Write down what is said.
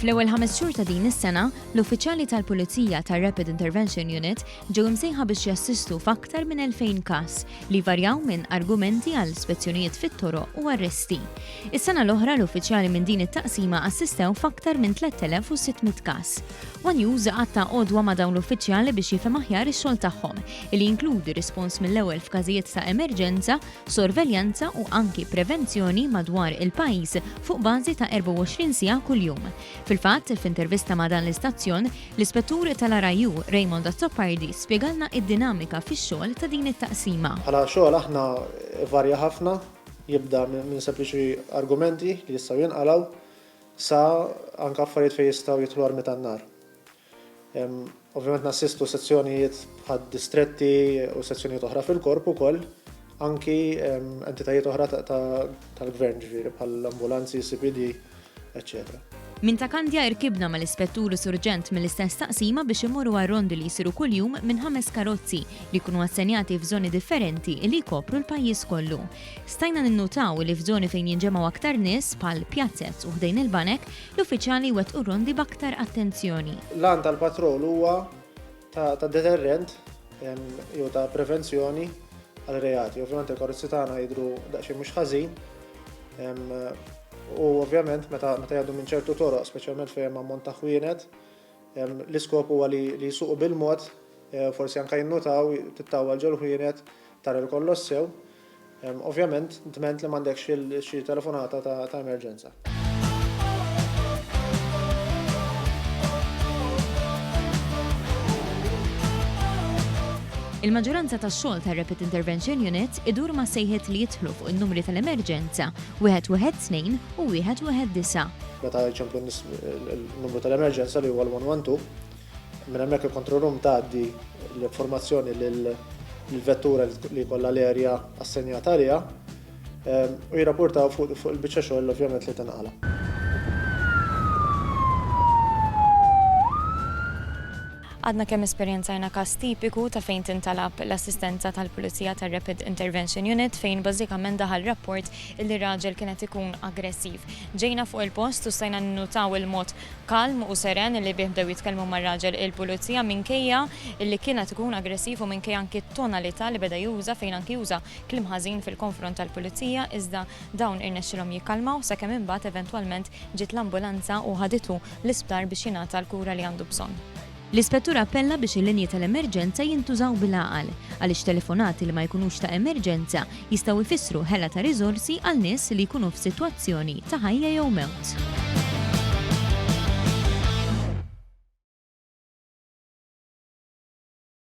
Fl-ewwel ħames xhur ta' din is-sena, l-uffiċjali tal-Pulizija tar-Rapid Intervention Unit ġew imsejħa biex jassistu f'aktar minn 2000 każ li varjaw minn argumenti għal spezzjonijiet fit-toroq u arresti. Is-sena l-oħra l-uffiċjali minn din it-taqsima assistew f'aktar minn 3600 każ. One News qatta' għodwa ma' dawn l-uffiċjali biex jifhem aħjar ix-xogħol tagħhom, li jinkludi rispons mill-ewwel f'każijiet ta' emerġenza, sorveljanza u anki prevenzjoni madwar il-pajjiż fuq bażi ta' 24 siegħa kuljum. Fil-fatt, f'intervista ma' dan l-istazzjon, l-Ispettur tal-RIU, Raymond Azzopardi, spjegalna id-dinamika fix-xogħol ta' din it-taqsima. Bħala xogħol aħna ivarja ħafna, jibda minn sempliċi argumenti li jistgħu jinqalgħu, Sa anke affarijiet fejn jistgħu jidħlu armi tan-nar. Ovvjament nassistu sezzjonijiet bħad-distretti u sezzjonijiet oħra fil-Korp ukoll, anki entitajiet oħra tal-Gvern ġifieri bħall-ambulanzi, CPD, eċċetera. Minn ta' Kandja irkibna mal-Ispettur u Surġent mill-istess taqsima biex immorru għar-rondi li jsiru kuljum minn ħames karozzi li jkunu assenjati f'żoni differenti li jkopru l-pajjiż kollu. Stajna ninnutaw li f'żoni fejn jinġemgħu aktar nies, bħal pjazez u ħdejn il-banek, l-uffiċjali jwettqu r-rondi b'aktar attenzjoni. L-għan tal-patrol huwa ta' deterrent jew ta' prevenzjoni għal reati. Ovvjament il-karozzi tagħna jidhru daqsxejn mhux ħażin u ovvjament meta jgħaddu minn ċertu toroq, speċjalment fejn hemm ammont ta' ħwienet, l-iskop huwa li jsuqu bil-mod, forsi anke jinnutaw, tittawwal ġol-ħwienet, Tara li kollox sew. Ovvjament, dment li m'għandekx xi telefonata ta' emerġenza. Il-maġġoranza tax-xogħol tar-Rapid Intervention Unit idur ma' sejħiet li jidħlu fuq in-numri tal-emerġenza 112 u 119. Meta jċemplu n-nies il-numru tal-emerġenza li huwa l-112, Minn hemmhekk il-control room tgħaddi l-informazzjoni lill-vettura li jkollha l-erja assenjata għaliha u jirrapportaw fuq il-biċċa xogħol ovvjament li tinqala'. Għadna kemm esperjenzajna każ tipiku ta' fejn tintalab l-assistenza tal-Pulizija tar-Rapid Intervention Unit fejn bażikament daħal rapport illi raġel kien qed ikun aggressiv. Ġejna fuq il-post u stajna ninnutaw il-mod kalm u seren li bih bdew jitkellmu mar-raġel il-Pulizija minkejja li kien qed ikun aggressiv u minkejja anki t-tonalità li beda juża fejn anki uża kliem ħażin fil-konfront tal-Pulizija iżda dawn irnexxilhom jikkalmaw sakemm imbagħad eventwalment ġiet l-ambulanza u ħaditu l-isptar biex jingħata l-kura li għandu bżonn. L-Ispettur appella biex il-linji tal-emerġenza jintużaw bil-għaqal, għaliex telefonati li ma jkunux ta' emerġenza jistgħu jfissru ħela ta' riżorsi għal nies li jkunu f'sitwazzjoni ta' ħajja jew mewt.